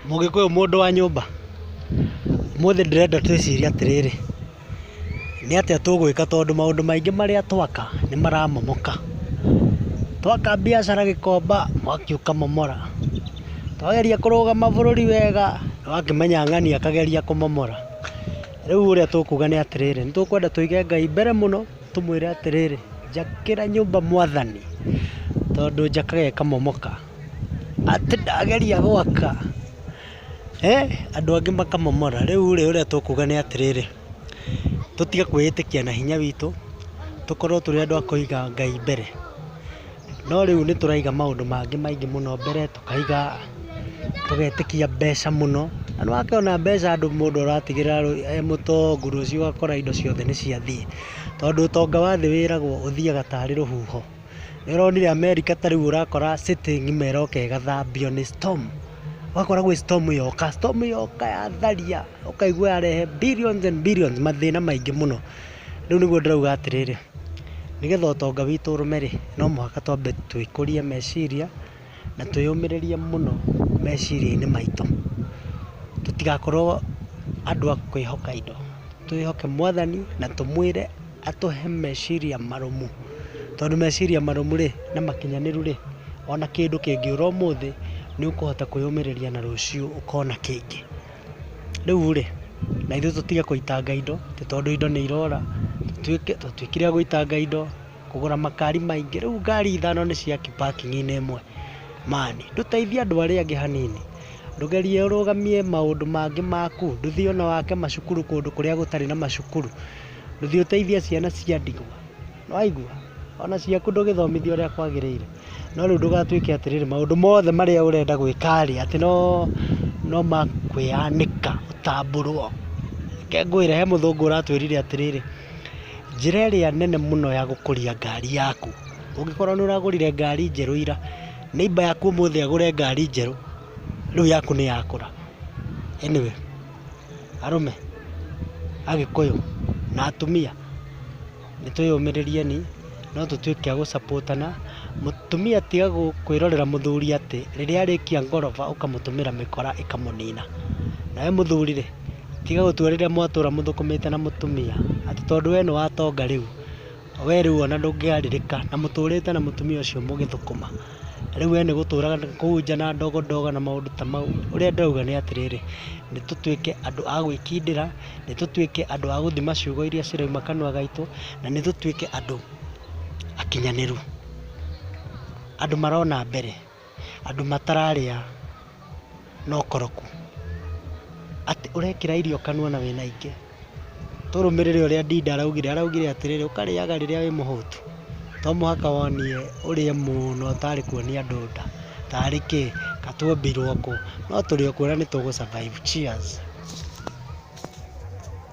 Mũgĩkũyũ mũndũ wa nyũmba, ũmũthĩ ndĩrenda twĩcirie atĩrĩrĩ, nĩ atĩa tũgwĩka tondũ maũndũ maingĩ marĩa twaka nĩ maramomoka. Twaka mbiacara Gĩkomba, mwaki ũkamomora. Twageria kũrũga mabũrũri wega, nĩ wakĩmenya ng'ani akageria kũmomora. Rĩu ũrĩa tũkuga nĩ atĩrĩrĩ, nĩ tũkwenda tũige Ngai mbere mũno, tũmwĩre atĩrĩrĩ, njakĩra nyũmba mwathani, tondũ njakaga ĩkamomoka. atĩ ndageria gwaka, andũ angĩ makamomora. Rĩu rĩ, ũrĩa tũkuga nĩ atĩrĩrĩ, tũtige kwĩĩtĩkia na hinya witũ, tũkorwo tũrĩ andũ a kũiga Ngai mbere. No rĩu nĩ tũraiga maũndũ mangĩ maingĩ mũno mbere, tũkaiga, tũgetĩkia mbeca mũno, na nĩ wakĩona mbeca andũ mũndũ ũratigĩrĩra e mũtongu rũciũ ũgakora indo ciothe nĩ ciathiĩ. Tondũ ũtonga wa thĩ wĩragwo ũthiaga tarĩ rũhuho. Nĩũronire Amerika ta rĩu ũrakora city ng'ima ĩroka ĩgathambio nĩ storm. Ũgakora gwĩ storm yoka, storm yoka yatharia, ũkaigua yarehe billions and billions, mathĩna maingĩ mũno. Rĩu nĩguo ndĩrauga atĩrĩrĩ, nĩgetha ũtonga witũ ũrũme-rĩ, no mũhaka twambe twĩkũrie meciria. na twĩyũmĩrĩrie mũno meciria-inĩ maitũ. Tũtigakorwo andũ a kwĩhoka indo. Twĩhoke Mwathani na tũmwĩre atũhe meciria marũmu. Tondũ meciria marũmu rĩ, na makinyanĩru rĩ, ona kĩndũ kĩngĩũra ũmũthĩ, nĩ ũkũhota kwĩyũmĩrĩria na rũciũ ũkona kĩngĩ. Rĩu rĩ, na ithuĩ tũtige gũitanga indo, tondũ indo nĩ irora, tũtuĩke a gũitanga indo. kũgũra makari maingĩ rĩu ngari ithano nĩ cia ki parking inĩ ĩmwe man ndũteithie andũ arĩa angĩ hanini ndũgerie ũrũgamie maũndũ mangĩ maku ndũthiĩ ona wake macukuru kũndũ kũrĩa gũtarĩ na macukuru ndũthiĩ ũteithie ciana cia ndigwa nĩwaigua ona ciaku ndũgĩthomithia ũrĩa kwagĩrĩire no rĩu ndũgatuĩke atĩrĩrĩ maũndũ mothe marĩa ũrenda gwĩka rĩ atĩ no makwĩyanĩka ũtambũrwo reke ngwĩre he mũthũngũ ũratwĩrire atĩrĩrĩ. Njĩra ĩrĩa nene mũno ya gũkũria ngari yaku, ũngĩkorwo nĩ ũragũrire ngari njerũ ira, neighbour yaku ũmũthĩ agũre ngari njerũ, rĩu yaku nĩ yakũra. Anyway, arũme, agĩkũyũ na atumia, nĩ twĩyũmĩrĩrieni, no tũtuĩke a gũ support ana. Mũtumia tiga kwĩrorera mũthuri atĩ rĩrĩa arĩkia ngoroba ũkamũtũmĩra mĩkora ĩkamũnina. Nawe mũthuri rĩ... Tiga gũtua rĩrĩa mwatũra mũthũkũmĩte na mũtumia. Atĩ tondũ we nĩ wa tonga rĩu, we rĩu ona ndũngĩarĩrĩka na mũtũrĩte na mũtumia ũcio mũgĩthũkũma. Rĩu we nĩ gũtũraga kũu nja na ndogo ndogo na maũndũ ta mau. Ũrĩa ndĩrauga nĩ atĩrĩrĩ, nĩ tũtuĩke andũ a gwĩkindĩra, nĩ tũtuĩke andũ a gũthima ciugo iria cirauma kanua gaitũ, na nĩ tũtuĩke andũ akinyanĩru. Andũ marona mbere. andũ matararĩa na ũkoroku. Atĩ ũrekĩra irio kanua na wĩna ingĩ. Tũrũmĩrĩre ũrĩa Ndinda araugire, araugire atĩrĩrĩ, ũkarĩaga rĩrĩa wĩ mũhũtu. To mũhaka wonire ũrĩe mũno ũtarĩ kuonia andũ nda. Tarĩ kĩ? Ka tuombirwo kũ? No tũrĩ o kuo na nĩ tũgũ survive. Cheers.